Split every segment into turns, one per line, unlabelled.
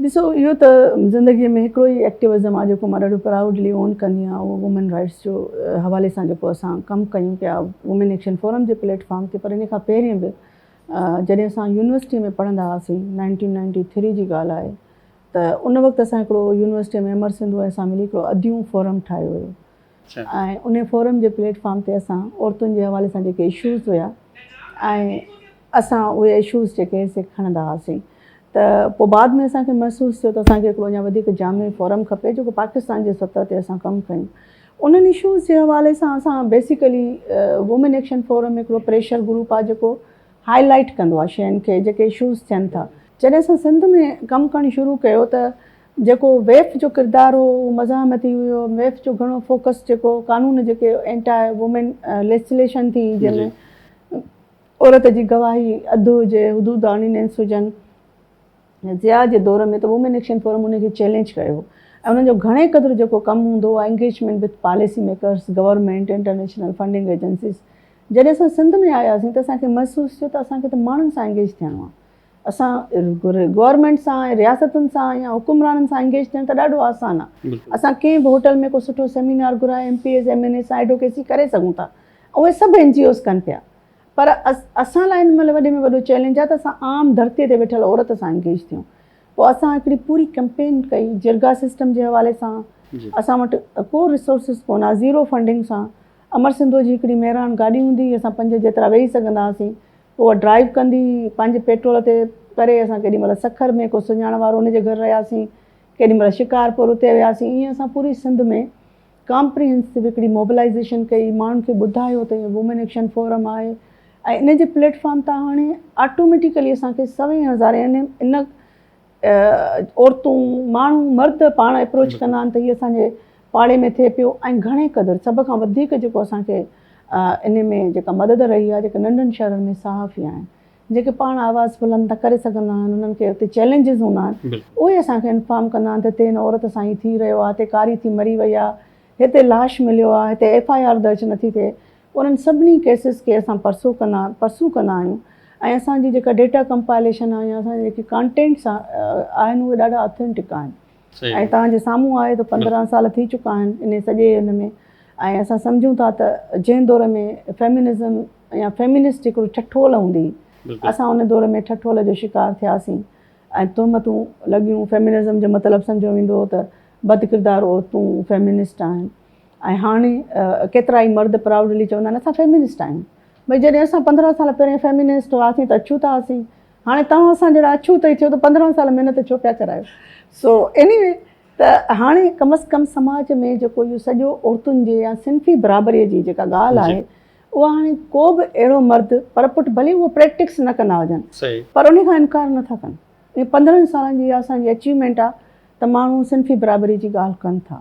ڏسو اهو ته زندگي ۾ هڪڙو ئي ايڪٽيوزم آهي جيڪو مان ڏاڍو پرائوڊلي اون ڪندي آهيان اهو وومين رائٽس جو حوالي سان جيڪو اسان ڪم ڪيون پيا وومين ايڪشن فورم جي پليٽ فارم تي پر ان کان پهرين به جڏهن اسان يونيورسٽي ۾ پڙهندا هئاسين نائنٽين نائنٽي ٿري جي ڳالهه آهي ته ان وقت اسان هڪڙو يونيورسٽي ۾ امر سنڌو ۽ اسان ملي هڪڙو اديون فورم ٺاهيو هيو ۽ انهي فورم جي پليٽ فارم تي اسان عورتن جي حوالي سان جيڪي اشوز هيا ۽ اسان اهي اشوز جيڪي سي کڻندا هئاسين ته پوء بعد ۾ اسان کي محسوس ٿيو ته اسان کي هڪڙو اڃا وڌيڪ جامع فورم کپي جيڪو پاڪستان جي سطح تي اسان ڪم ڪيون انهن اشوز جي حوالي سان اسان بيسيڪلي وومين ايڪشن فورم هڪڙو پريشر گروپ آهي جيڪو هائي لائيٽ ڪندو آهي شين کي جيڪي اشوز ٿين ٿا جڏهن اسان سنڌ ۾ ڪم ڪرڻ شروع ڪيو ته جيڪو ويف جو ڪردار هو اهو مزاحمتي هيو، ويف جو گهڻو فوڪس جيڪو قانون جيڪي اينٽا وومين ليسليشن ٿي جنهن ۾ عورت جي گواهي اڌ هجي حدود آرڊيننس هجن ضياء جي دور ۾ ته وومين ايڪشن فورم ان کي چئلينج ڪيو ۽ انهن جو گهڻي قدر جيڪو ڪم هوندو هو engagement with policy makers, government, international funding agencies جڏهن اسان سنڌ ۾ آياسين ته اسان کي محسوس ٿيو ته اسان کي ته ماڻهن سان انگيج ٿيڻو آهي. اسان گورنمينٽ سان ۽ رياستن سان يا حڪمرانن سان انگيج ٿيڻ ته ڏاڍو آسان آ. اسان ڪنهن به هوٽل ۾ ڪو سٺو سيمينار گهرائي M P As, M N As سان ايڊوڪيسي ڪري سگهون ٿا. اهي سڀ اين جي اوز ڪن پيا. پر اسان لاء هن مهل وڏي ۾ وڏو چئلينج آ ته اسان عام ڌرتي تي ويٺل عورت سان انگيج ٿيون. پوء اسان هڪڙي پوري ڪئمپين ڪئي جرڳا سسٽم جي حوالي سان. اسان وٽ ڪو ريسورسز ڪونه آ. زيرو فنڊنگ سان امر سنڌوء جي هڪڙي مهراڻ گاڏي هوندي هئي اسان پنج جيترا ويهي سگهندا هئاسين. اها ڊرائيو ڪندي پنهنجي پيٽرول تي پري اسان ڪيڏي مهل سکر ۾ ڪو سڃاڻ وارو ان جي گهر رهياسين ڪيڏي مهل شڪارپور اتي وياسين ائين اسان پوري سنڌ ۾ ڪامپريهنسو هڪڙي موبلائيزيشن ڪئي ماڻهن کي ٻڌايو ته وومين ايڪشن فورم آهي ۽ ان جي پليٽ فارم تان هاڻي آٽوميٽيڪلي اسان کي سوين هزار يعني ان عورتون، ماڻهو، مرد پاڻ اپروچ ڪندا آهن ته هي اسان جي پاڙي ۾ ٿئي پيو ۽ گهڻي قدر سڀ کان وڌيڪ جيڪو اسان کي ان ۾ جيڪا مدد رهي آهي جيڪي ننڍن شهرن ۾ صحافي آهن جيڪي پاڻ آواز بلند نه ڪري سگهندا آهن انهن کي اتي چئلينجز هوندا آهن اهي اسان کي انفارم ڪندا آهن ته هتي هن عورت سان هي ٿي رهيو آهي هتي ڪاري ٿي مري وئي آهي هتي لاش مليو آهي هتي ايف آء آر درج نٿي ٿئي انهن سڀني ڪيسز کي اسان پرسو ڪندا پرسو ڪندا آهيون ۽ اسان جي جيڪا ڊيٽا ڪمپائليشن آهي يا اسان جا جيڪي ڪانٽينٽس آهن اهي ڏاڍا اٿينٽڪ آهن ۽ توهان جي سامهون آهي ته پندرهن سال ٿي چڪا آهن انهي سڄي ان ۾ ۽ اسان سمجهون ٿا ته جنهن دور ۾ فيمنزم يا فيمنسٽ هڪڙو ٺٺول هوندي هئي اسان ان دور ۾ ٺٺول جو شڪار ٿياسين ۽ تهمتون لڳيون فيمنزم جو مطلب سمجهيو ويندو هو ته بدڪردار عورتون فيمنسٽ آهن ۽ هاڻي ڪيترائي مرد پرائوڊلي چوندا آهن اسان فيمنسٽ آهيون. ڀئي جڏهن اسان پندرهن سال پهرين فيمنسٽ هئاسين ته اڇوتا هئاسين. هاڻي توهان اسان جهڙا اڇوت ئي ٿيو ته پندرهن سال محنت ڇو پيا ڪرايو. سو ايني وي ته هاڻي ڪم از ڪم سماج ۾ جيڪو اهو سڄو عورتن جي يا صنفي برابري جي جيڪا ڳالهه آهي اها هاڻي ڪو به اهڙو مرد پر پٽ ڀلي اهو پريڪٽڪس نه ڪندا هجن پر انهي کان انڪار نٿا ڪن. اهي پندرهن سالن جي اها اسان جي اچيومينٽ آهي ته ماڻهو صنفي برابري جي ڳالهه ڪن ٿا.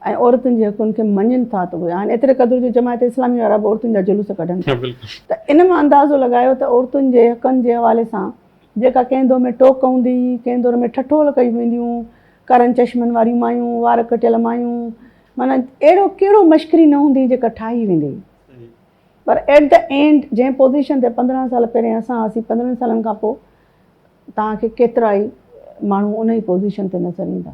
۽ عورتن جي حقن کي مڃين ٿا ته اهي آهن ايتري قدر جو جماعت اسلامي وارا به عورتن جا جلوس ڪڍن ٿا ته ان مان اندازو لڳايو ته عورتن جي حقن جي حوالي سان جيڪا ڪنهن دور ۾ ٽوڪ هوندي هئي ڪنهن دور ۾ ٺٺول ڪيون وينديون ڪارن چشمن واريون مايون وار ڪٽيل مايون معنيٰ اهڙو ڪهڙو مشڪري نه هوندي جيڪا ٺاهي ويندي هئي پر ايٽ دي اينڊ جنهن پوزيشن تي پندرهن سال پهرين اسان هئاسين پندرهن سالن کان پوء توهان کي ڪيترائي ماڻهو ان ئي پوزيشن تي نظر ايندا